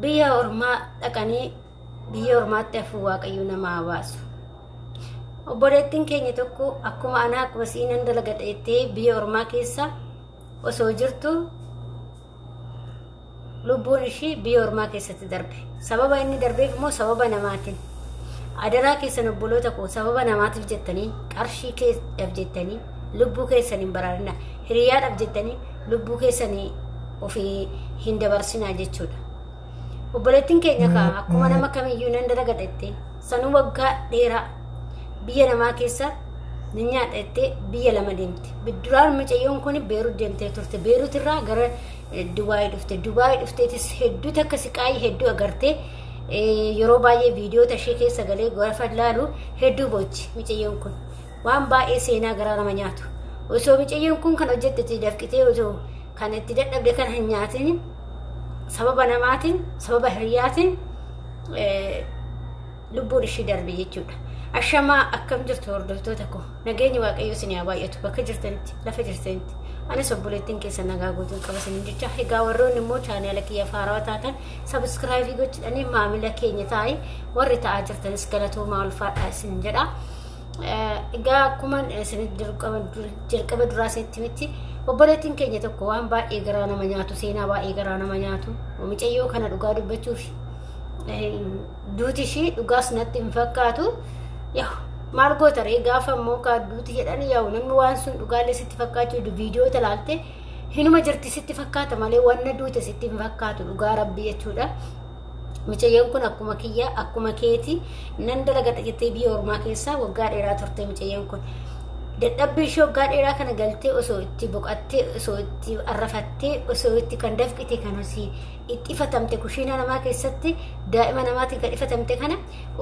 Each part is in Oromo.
biyya ormaa dhaqanii biyya ormaatti hafuu waaqayyo nama haa baasu obboleettiin keenya tokko akkuma anaa akkuma siinan dalagadha jettee biyya ormaa keessa osoo jirtu lubbuun ishii biyya ormaa keessatti darbe sababa inni darbeef immoo sababa namaatiin adaraa keessan obboloota koo sababa namaatiif jettanii qarshii keessaf jettanii lubbuu keessan hin baraarina hiriyaadhaaf jettanii lubbuu keessanii ofii hin dabarsinaa jechuudha. Obboleettiin keenya kaa akkuma nama kamiyyuu nan dalagadha jettee sanuu waggaa dheeraa biyya namaa keessa ni nyaadha jettee biyya lama deemte. Duraan mucayyoon kun Beerut deemtee turte. Beerut irraa gara eh, Dubaayii dhufte. Dubaayii dhufteetis hedduu takka siqaayii hedduu agartee eh, yeroo baay'ee viidiyoota ishee keessa galee gaafa ilaalu hedduu boochi mucayyoon kun. waan baay'ee seenaa garaa nama nyaatu osoo micayyoon kun kan hojjette itti dafqitee osoo kan itti dadhabde kan hin nyaatin sababa namaatiin sababa hiriyaatiin lubbuun ishii darbe jechuudha. Ashamaa akkam jirtu hordoftoota koo nageenyi waaqayyoo isin haa baay'atu bakka jirtanitti lafa jirtanitti anis obboleettiin keessan nagaa guutuun qaba isin jecha egaa warroonni immoo chaanaala kiyya faarawaa taatan sabiskiraaybii gochuudhaan maamila keenya taa'ee warri ta'aa jirtanis galatoomaa ulfaadhaa isin jedha. Egaa akkuma isinitti dirqaman jalqaba duraa isinitti miti obboleettiin keenya tokko waan baay'ee garaa nama nyaatu seenaa baay'ee garaa nama nyaatu mucayyoo kana dhugaa dubbachuuf duuti ishii dhugaas natti hin fakkaatu yaa maal goota ree gaafa immoo kaa duuti jedhan yaa namni waan sun dhugaalee sitti fakkaachuu viidiyoo talaalte hinuma jirti sitti fakkaata malee wanna duute sitti hin fakkaatu dhugaa rabbii jechuudha. Micayyoon kun akkuma kiyya akkuma keeti nan dalagadha jettee biyya ormaa keessaa waggaa dheeraa turte micayyoon kun. Dadhabbii ishee waggaa dheeraa kana galtee osoo itti boqattee osoo itti arrafattee osoo itti kan dafqite kan osii itti ifatamte kushiina namaa keessatti daa'ima namaatiin kan ifatamte kana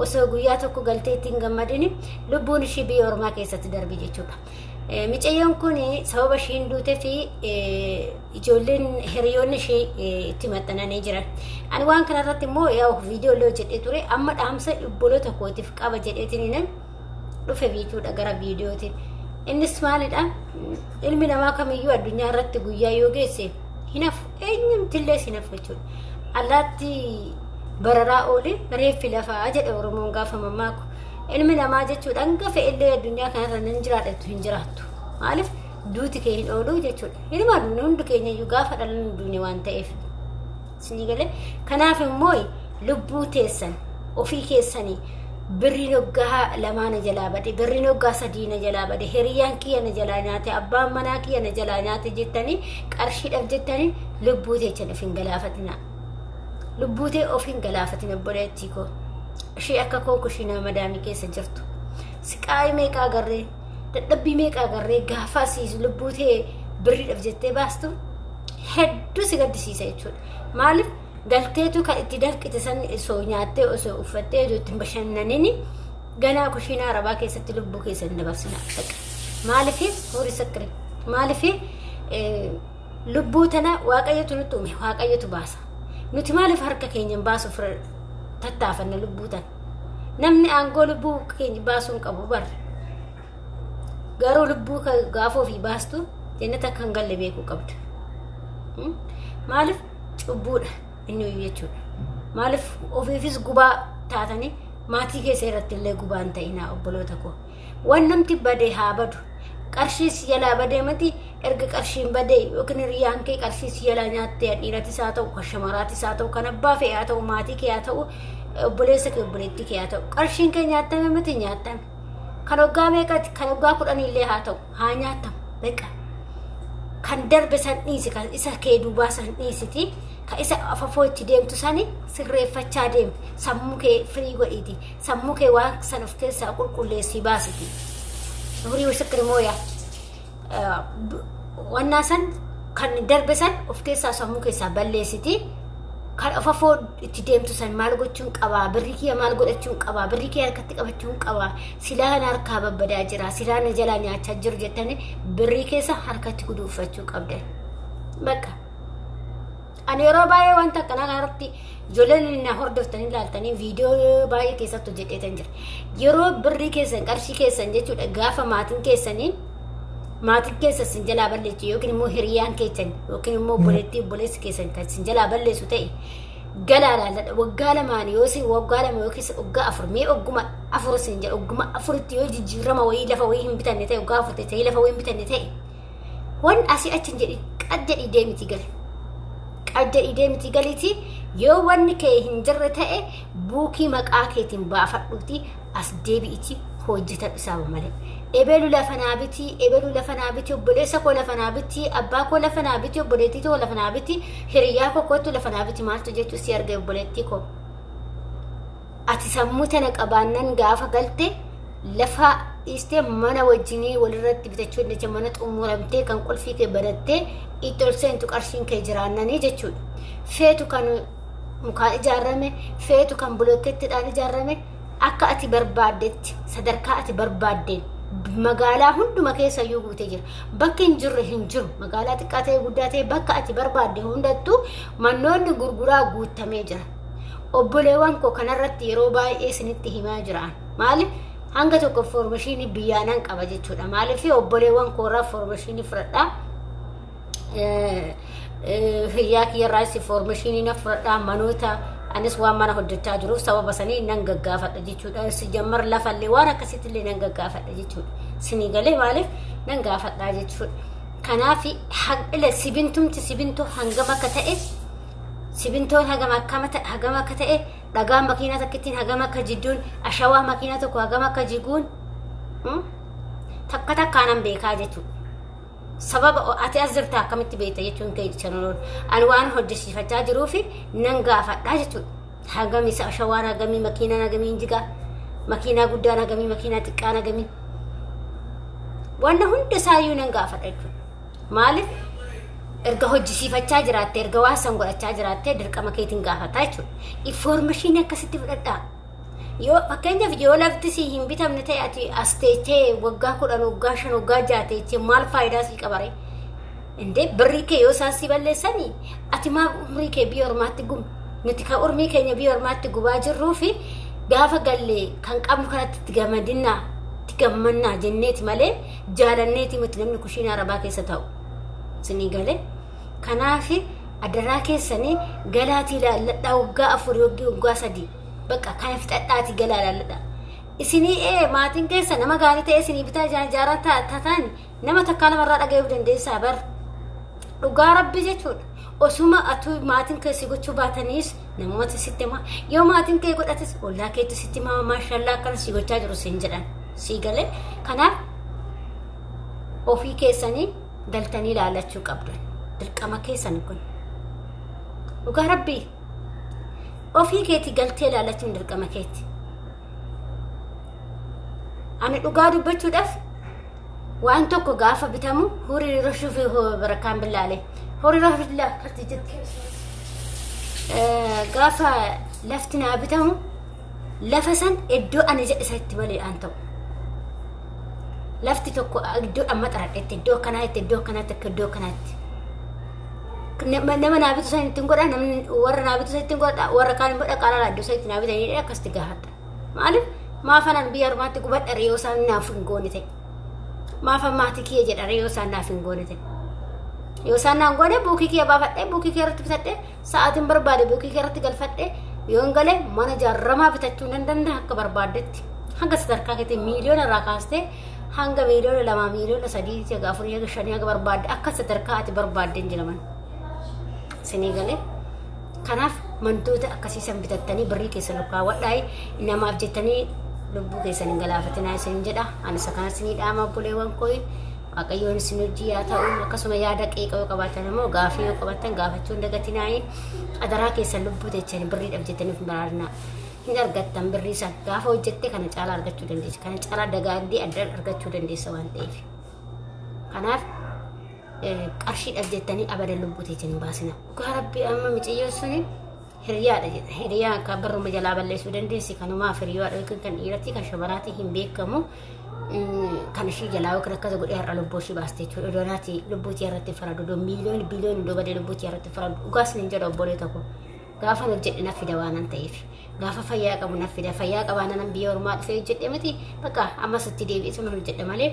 osoo guyyaa tokko galtee ittiin gammadini lubbuun ishee biyya ormaa keessatti darbe jechuudha. Eh, Micayyoon kun sababa ishiin duutee fi eh, ijoolleen hiriyoonni ishee eh, itti maxxananii jiran. Ani waan kana irratti immoo yaa viidiyoo illee hojjedhee ture amma dhaamsa obboloota kootiif qaba jedheetiin nan dhufe biituudha gara viidiyooti. Innis maalidha? Ilmi namaa kamiyyuu addunyaa irratti guyyaa yoo geesse hinafu eenyumtillee hinafu jechuudha. Allaatti bararaa oole reeffi lafaa jedha Oromoon gaafa mammaaku. Ilmi namaa jechuudha hanga fe'ellee addunyaa kanarra nan jiraadha jettu hin jiraattu. Maaliif duuti kee hin oolu jechuudha. Ilma duuni hundi keenya iyyuu gaafa dhalan duuni waan ta'eef. Isinii galee kanaaf immoo lubbuu teessan ofii keessanii birriin hoggaa lamaa na jalaa bade birriin hoggaa sadii na jalaa bade hiriyyaan kiyya na jalaa nyaate abbaan manaa kiyya na jalaa nyaate jettanii qarshiidhaaf jettanii lubbuu teessan of hin galaafatinaa. lubbuu tee of hin galaafatin obboleettii koo ishee akka koo kushiinaa madaamii keessa jirtu siqaa'ii meeqa agarree dadhabbii meeqa agarree gaafaa siis lubbuu tee birriidhaaf jettee baastu hedduu si gaddisiisa jechuudha maaliif galteetu kan itti danqite san osoo nyaattee osoo uffattee osoo ittiin bashannanini ganaa kushiinaa arabaa keessatti lubbuu keessa hin dabarsina maaliif horii sakkire maaliif Lubbuu tana waaqayyotu nutti uume waaqayyotu baasa. Nuti maaliif harka keenyaan baasuuf tattaafanna lubbuu tana? Namni aangoo lubbuu keenya baasuu hin qabu barre. Garuu lubbuu gaafa ofii baastu jennata akka hin galle beekuu qabda. Maaliif cubbuudha inni hoyyuu jechuudha. Maaliif ofiifis gubaa taatanii maatii keessa irratti illee gubaa hin ta'inaa obboloota koo. Waan namti bade haa badu. Qarshii si jalaa badee miti erga qarshiin badee yookiin hiriyaan kee qarshii si jalaa nyaattee dhiiratis haa ta'u kan shamaraatis haa ta'u kan abbaa fe'e haa ta'u maatii kee haa ta'u obboleessa kee obboleettii kee haa ta'u qarshiin kee nyaattame miti nyaattame. Kan waggaa meeqati kan waggaa kudhaniillee haa ta'u haa nyaattamu beqa. Kan darbe san dhiisi kan isa kee duubaa san dhiisiti kan isa afafoo itti deemtu sani sirreeffachaa deemi sammuu kee firii godhiiti Sammuu kee waan san of keessaa qulqulleessii baasiti. Nuurii misikri mooya. Wannaa san kan darbe san of keessaa sammuu keessaa balleessiti. Kan of afoo itti deemtu san maal gochuun qabaa? Birri kiyya maal godhachuun qabaa? Birri kiyya harkatti qabachuun qabaa? Silaa kana harkaa babbadaa jira. Silaa na jalaa nyaachaa jiru jettanii birrii keessa harkatti guduunfachuu qabdan. Bakka. Ani yeroo baay'ee wanta akkanaa kanarratti ijoolleen na hordoftanii ilaaltanii viidiyoo baay'ee keessatti hojjedheetan jira. Yeroo birrii keessan qarshii keessan jechuudha gaafa maatiin keessanii maatiin keessa sin jalaa balleessu yookiin immoo hiriyaan keessan yookiin immoo obboleettii obboleessi keessan kan sin jalaa balleessu ta'e galaa laalladha waggaa lamaan yoo sin waggaa lama yookiis waggaa afur mee ogguma afur sin jedha ogguma afuritti yoo jijjiirama wayii lafa wayii hin bitanne ta'e waggaa afur ta'e lafa wayii hin bitanne ta'e wan asi achin jedhi qad jedhi deemiti gali qad jedhi deemiti galiti yoo wanni kee hin jirre ta'e buukii maqaa keetiin baafadhuuti as deebi'iti hojjetan isaaba malee ebelu lafa naa biti ebelu lafa naa biti obboleessa koo lafa naa biti abbaa koo lafa naa biti obboleettii koo lafa naa biti hiriyaa koo kootu lafa naa biti maaltu jechuun si arga obboleettii koo Ati sammuu tana qabaannan gaafa galte lafa dhiistee mana wajjinii walirratti bitachuu dandeecha mana xumuramtee kan qulfii kee banattee itti ol seentu qarshiin kee jiraannanii jechuudha. Feetu kan mukaan ijaarame, feetu kan bulokkeettidhaan ijaarame akka ati barbaaddetti sadarkaa ati barbaaddeen magaalaa hunduma keessa iyyuu guutee jira. Bakki hin jirre hin jiru. Magaalaa xiqqaa ta'e guddaa ta'e bakka ati barbaadde hundattuu mannoonni gurguraa guutamee jira. Obboleewwan koo kanarratti yeroo baay'ee isinitti himaa jira. Maali? Hanga tokko foormashiinii biyyaa nan qaba jechuudha. Maaliif obboleewwan koorraa foormashiinii fudhadhaa? Hiriyaa kiyyarraas foormashiinii nan fudhadhaa manoota anis waan mana hojjechaa jiruuf sababa sanii nan gaggaafadha jechuudha. Si jammar lafallee waan akkasitti illee nan gaggaafadha jechuudha. Sinii galee maaliif nan gaafadhaa jechuudha. Kanaaf haqile sibintumti sibintu hangam akka ta'e Simintoon hagam akkama ta- hagam akka ta'e, dhagaan makiinaa takkittiin hagam akka jidduun, ashawaa makiinaa tokko hagam akka jiguun hmm? takka takkaan an beekaa jechuudha. sababa o- ati as jirta akkamitti beekta jechuun kee chanaroon ani waan hojjechiifachaa jiruu fi nan gaafadhaa jechuudha. Hagam isa ashawaan hagamii makiinaan hagamii jigaa makiinaa guddaan hagamii makiinaa xiqqaan hagamii wanna hunda isaayyuu nan gaafadha jechuudha. Maaliif erga hojjisiifachaa jiraattee erga waan san godhachaa jiraattee dirqama keetiin gaafataa jechuudha. Infoormeeshinii akkasitti fudhadhaa. Yoo fakkeenyaaf yoo lafti si hin bitamne ta'e ati as teechee waggaa kudhan waggaa shan waggaa ja'a teechee maal faayidaa sii qabaree? Indee birrii kee yoo isaan si balleessanii ati maa umrii kee biyya ormaatti gubu? Nuti kan umrii keenya biyya ormaatti gubaa jirruu fi gaafa gallee kan qabnu kanatti itti gammadinaa itti gammannaa jenneeti malee jaalanneeti miti namni kushiinaa arabaa keessa taa'u isinii galee kanaaf adaraa keessanii galaatii laalladhaa waggaa afurii waggaa waggaa sadii bakka kana fixadhaatii galaa laalladhaa isinii ee maatiin keessa nama gaarii ta'e isinii bitaa jaa- jaaraa ta- tataan nama takkaa lamarraa dhaga'uu dandeessaa bar dhugaa rabbi jechuudha osuma atuu maatiin keessi gochuu baataniis Namoota sitti himaa yoo maatiin kee godhates ollaa keetti sitti himaa maashallaa akkana si gochaa jiru siin jedhan sii galee kanaaf ofii keessanii galtanii ilaalachuu qabdan dirqama keessan kun dhugaa rabbii ofii keeti galtee ilaalachuun dirqama keeti ani dhugaa dubbachuudhaaf Waan tokko gaafa bitamu horii yeroo shufi barakaan billaalee. Horii yeroo billaa kartii jirti. Gaafa lafti naa bitamu lafa san iddoo ani jedhe isatti bali'aan ta'u. Lafti tokko iddoo amma xaradhetti iddoo akkanaatti iddoo akkanaatti akka iddoo akkanaatti. Nama naa bitu san ittiin godha namni warra naa bitu san ittiin godha warra kaan immoo dhaqaa laalaa iddoo san ittiin naa bitanii akkasitti gaafadha. Maaliif maafanan biyya armaatti gubadha reeyoo isaan naaf hin goone ta'e. Maafan maatii kiyya jedha reeyoo isaan naaf hin goone ta'e. Yoo isaan naan goone buukii kiyya baafadhee buukii kiyya irratti bitadhee sa'aatiin barbaade buukii kiyya irratti galfadhee yoo hin galee mana jaarramaa bitachuu nan danda'a akka barbaaddetti. Hanga sadarkaa keetii miiliyoona irraa kaastee hanga miiliyoona lamaa miiliyoona sadii haga afurii haga shanii haga barbaadde akka sadarkaa ati barbaadde hin jedhaman. Isinii galee. Kanaaf mantoota akkasii san bitattanii birrii keessan kaawwadhaa namaaf jettanii lubbuu keessan hin galaafatinaa isin jedha. Ani isa kanas ni dhaama obboleewwan koo waaqayyoon isin hojii yaa ta'u akkasuma yaada qeeqa yoo qabaatan immoo gaafii yoo qabaatan gaafachuu hin dagatinaa adaraa keessan lubbuu teessanii birriidhaaf jettanii hin baraarnaa. Hin argattan birrii san gaafa hojjette kana caalaa argachuu dandeessa. Kana caalaa dagaagdee adda argachuu dandeessa waan ta'eef. Kanaaf qarshiidhaaf jettanii abadan lubbuu teessan hin baasina. Dhugaa rabbi amma miciyyoon suni hiriyaadha jedha. Hiriyaa akka barruma jalaa balleessuu dandeessi kanumaaf hiriyaadha yookiin kan dhiiratii kan shamaraatii hin beekamu. Kan ishii jalaa yookiin akkasa godhee har'a lubbuu ishii baaste jechuudha. Iddoo naati lubbuu tiyya irratti faradu. Iddoo miiliyoon biliyoon iddoo badee lubbuu tiyya irratti faradu. Dhugaa isin hin jedhu obbolee tokko. Gaafa hojjedhe na fida waan an ta'eef. Gaafa fayyaa qabu na fida. Fayyaa qabaa nanan biyya ormaa dhufee hojjedhe miti. Bakka ammas itti deebi'ee sun hojjedhe malee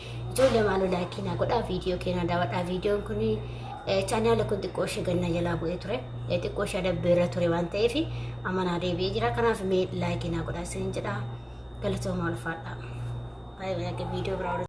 Ijoollee maaloo laayikii naa godhaa viidiyoo keenaa daawwadhaa viidiyoon kun chaanaala kun xiqqoo ishee ganna jalaa bu'ee ture xiqqoo ishee adabbeerra ture waan ta'eef amma naa deebi'ee jira kanaaf mee laayikii naa godhaa isiniin jedha galatooma ulfaadha. Baay'ee viidiyoo biraa